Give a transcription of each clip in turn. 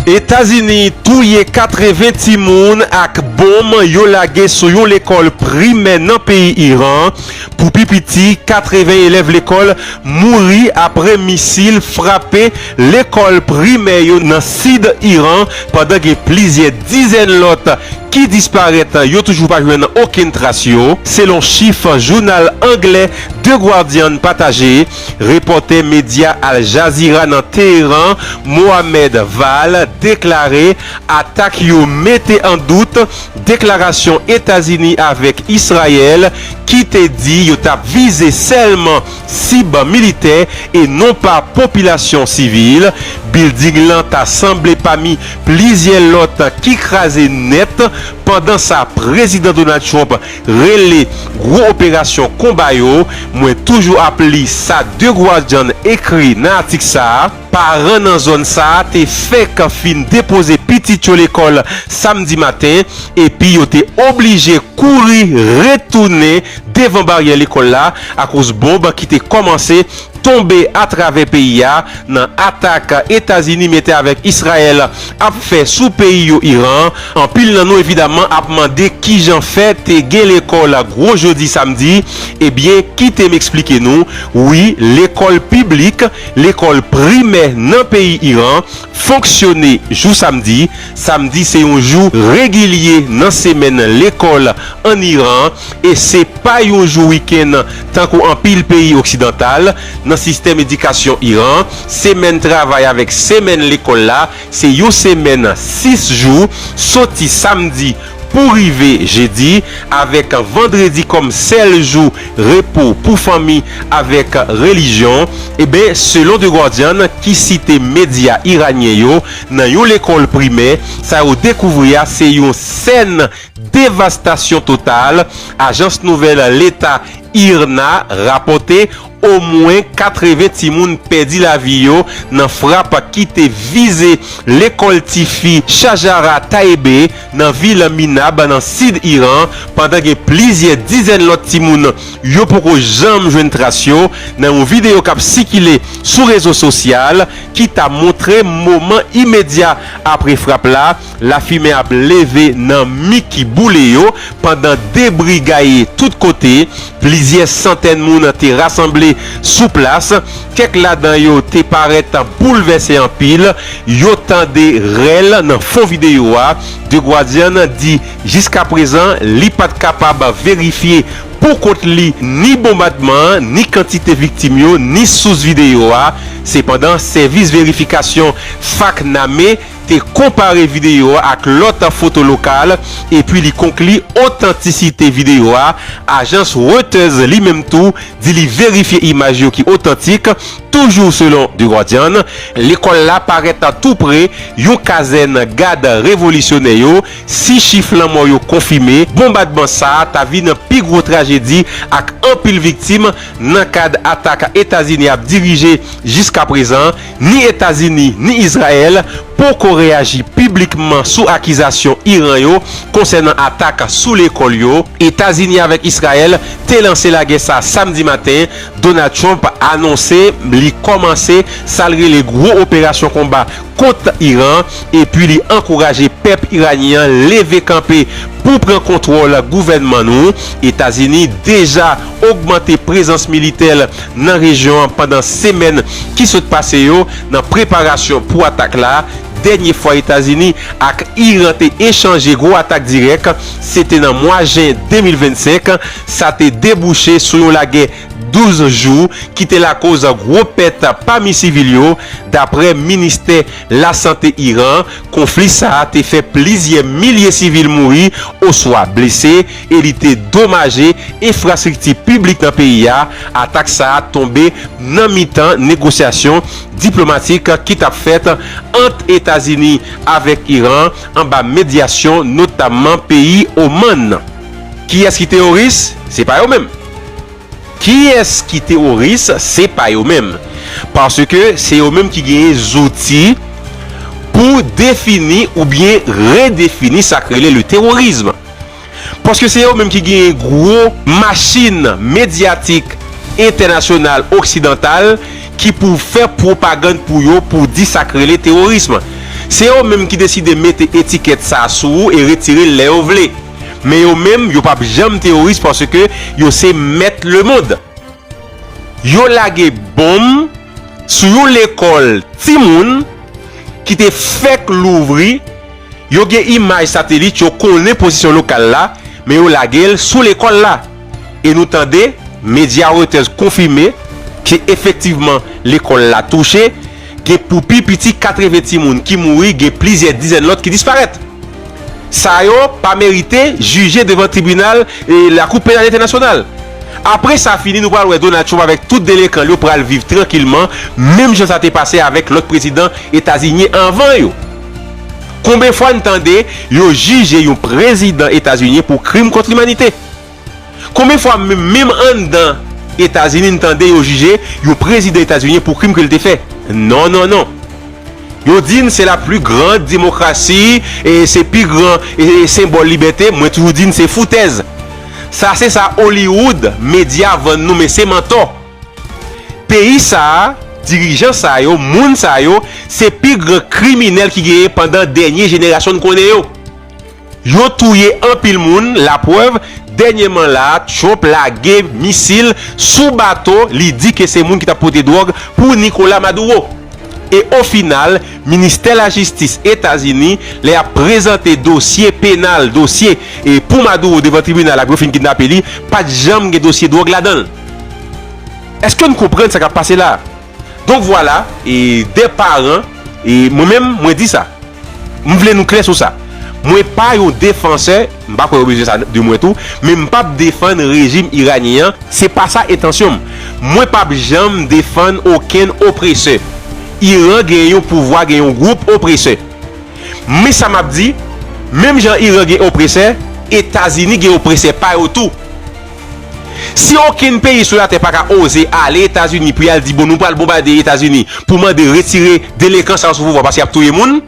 Etazini touye 80 timoun ak bonm yo lage sou yon lekòl primè nan peyi Iran. Pou pi piti 80 elèv lekòl mouri apre misil frape lekòl primè yo nan sid Iran pandan gen plizyè dizèn lòt ki disparèt yo toujou pa jwenn okenn tras yo, selon chif jounal anglè The Guardian pataje. Repòtè medya Al Jazeera nan Teheran, Mohammed Vahl deklare atak yo mete an dout deklarasyon Etazini avèk Israel ki te di yo t ap vize sèlman sib militè e non pa popilasyon sivil. Bilding lan ta sanble pami plizyè lòt ki kraze nèt pandan sa Prezidan Donald Trump rele gwo operasyon konba yo, mwen toujou ap li sa The Guardian ekri nan atik sa a, Paran nan zòn sa a te fèk fin depoze pitit yo lekòl samdi maten epi yo te oblije kouri retounen devan baryè lekòl la akoz bonb ki te kòmanse tonbe atravè peyi a nan atak Etazini mete avèk Israel ap fè sou peyi yo Iran. Anpil nan nou evidaman ap mande kijan fè te gen lekòl gwo jodi samdi, ebyen kite m eksplike nou, wi lekòl piblik, lekòl primè nan peyi Iran fonksyone jou samdi, samdi se yon jou regilye nan semèn lekòl an Iran. e se pa yon jou wikenn tankou anpil peyi oksidantal, nan sistèm edikasyon Iran, semèn travay avèk semèn lekòl la se yon semèn 6 jou, soti samdi pou rive jedi, avèk vandredi kòm sèl jou repo pou fanmi avèk relijyon. Eben, selon The Guardian, ki site medya iranyen yo, nan yon lekòl primè, sa yo dekouvri a se yon sèn Devastasyon total, ajans nouvèl leta IRNA rapòte omwen 80 timoun pèdi lavi yo nan frap ki te vize lekòl tifi Shajara Taebe nan vil Minab nan sid Iran pandan gen plizyè dizèn lòt timoun yo poko janm jwenn tras yo nan yon videyo k ap sikile sou rezo sosyal ki ta montre moman imedya apre frap la Lafimen ap leve nan mi ki boule yo pandan debri gaye tout kote. Plizyè santèn moun te rasanble sou plas. Kèk ladan yo te parèt boulvèse anpil. Yo tande rèl nan fon videyo a. The Guardian di jiskaprezan li pa t kapab verifye pou kont li ni bonbadman an, ni kantite viktim yo, ni sous videyo a. Sepandan, sèvis verifikasyon FACT Name, te konpare videyo a ak lòt foto lokal epi li konkli otantisite videyo a, ajans Reuters li menm tou di li verifye imaj yo ki otantik, toujou selon The Guardian, lekòl la parèt tou pre yon kazèn gad revolisyonè yo, si chif lanmò yo konfime, bonbadman sa a ta vin pi gwo trajedi ak anpil viktim nan kad atak Etazini ap dirije jiskaprezan. Ni Etazini ni Izrayèl poko reyaji piblikman sou akizasyon Iran yo konsènan atak sou lekòl yo. Etazini avèk Izrayèl te lanse lagè sa Samdi maten, Donald Trump anonse li kòmanse sa l rele gwo operasyon konba kont Iran epi li ankouraje pèp Iranyen an leve kanpe pou pran kontwòl gouvènman nou. Etazini deja ogmante prezans militè l nan rejyon an pandan semèn ki sot pase yo nan preparasyon pou atak la. Dènye fwa Etazini ak Iran te echanje gwo atak dirèk, se te nan mwa jen 2025. Sa te debouche sou yon lagè 12 jou ki te lakoz gwo pèt pami sivil yo, dapre Ministè Lasante Iran. Konfli sa a te fè plizyè milye sivil mouri oswa blese. e li te domaje enfrastrikti piblik nan peyi a, atak sa a tonbe nan mitan negosyasyon diplomatik ki t ap fèt ant Etazini avèk Iran anba medyasyon notamman peyi Oman. Kiyès ki teworis? Se pa yo menm! Kiyès ki teworis? Se pa yo menm! Paske se yo menm ki genyen zouti pou defini oubyen redefini sa k rele le terrorisme. Paske se yo menm ki genyen gwo machin medyatik entènasyonal oksidantal ki pou fè pwopagand pou yo pou di sa k rele teworism. Se yo menm ki deside mete etikèt sa sou ou e retire l lè yo vle. Men yo menm yo pap janm teworis paske yo se mèt lemond. Yo lage bonm. sou yon lekòl timoun ki te fèk louvri, yo gen imaj satelit, yo konnen pozisyon lokal la, men yo lage l sou lekòl la. E nou tande medya Reuters konfime ke efektivman lekòl la touche, gen pou pi piti 80 timoun ki mouri, gen plizyè dizèn lòt ki disparèt. Sa yo pa merite jije devan tribinal lakou penal entènasyonal. Apre sa fini nou pral wè Donald Trump avèk tout delenkan l yo pral viv trankilman menm jan sa te pase avèk lòt prezidan etazinyen anvan yo. Konben fwa n tande yo jije yon prezidan etazinyen pou krim kont limanite? Konbyen fwa menm anndan Etazini n tande yo jije yon prezidan etazunyen pou krim ke l te fè? Non, non, non. Yo di n se la pli grand demokrasi, se pi gran senbòl libète, mwen toujou di n se foutèz. Sa se sa Hollywood, medya vann nou men se mantò. Peyi sa a, dirijan sa yo, moun sa yo, se pi gran kriminèl ki genyen pandan dènye jenerasyon n konnen yo. Yo touye anpil moun, la prèv, dènyeman la a Trump lage misil sou bato li di ke se moun ki t ap pote dwòg pou Nicolas Maduro. E ofinal, Ministè Lajistis Etazini, lè y ap prezante dosye penal, dosye, pou Maduro devan tribinal apre yo fin kidnape li, pa t janm gen dosye dwòg ladan l. Èske n konprann sa k ap pase la a? Donk vwala, e dè paran, e mwen menm mwen di sa. M vle nou klè sou sa. Mwen pa yon defansè, m pa kwè yo bezwen sa de mwen tou, men m pap defann rejim iranyen an, se pa sa entansyon m. Mwen pap janm defann okenn opresè. Iran gen yon pouvwa, gen yon gwoup opresè. Men sa m ap di, menm jan Iran gen opresè, Etazini gen opresè pa yo tou. Si okenn peyi sou latè pa ka oze ale Etazini pou y al di bon nou pral bonbade Etazini pou mande retire delenkan sa yo sou pouvwa paske y ap touye moun,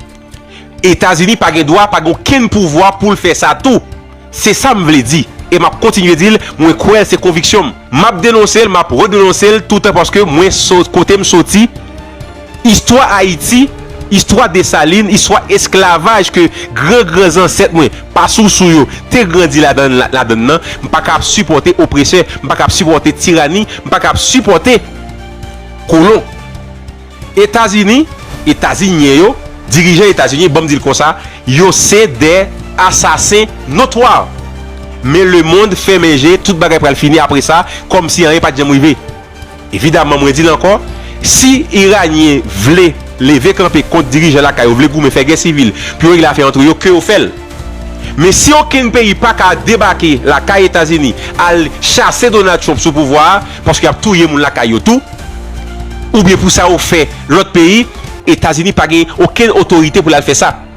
Etazini pa gen dwa, pa gen okenn pouvwa pou l fè sa tou. Se sa m vle di e m ap kontinye di l, mwen kwè l se konviksyon m. M ap denonse l, m ap redenonse l toutan paske mwen kote m soti, Istwa Ayiti, istwa Desalin, istwa esklavaj ke gran gran zansèt mwen, pa sousou yo, te grandi ladan ladann nan, m pa ka ap sipòte opresè, m pa ka ap sipòte tirani, m pa ka ap sipòte kolon. Etazini, Etazinyen yo, dirijan Etazinyen, banm di l konsa, yo se de asasen notwa. Men lemond fèmen je, tout bagay pral fini apresa, kòmsi anyen pa t janm rive. Evidaman mwen di l ankò, si Iranyen vle leve kanpe kont dirijan lakay yo, vle goumen, fè gè sivil pou yo regle afè antre yo, ke yo fè l. Men si okenn peyi pa ka debake lakay Etazini al chase Donald Trump sou pouvwa a, paske y ap touye moun lakay yo tou, oubyen pou sa yo fè lòt peyi, Etazini pa gen okenn otorite pou l al fè sa.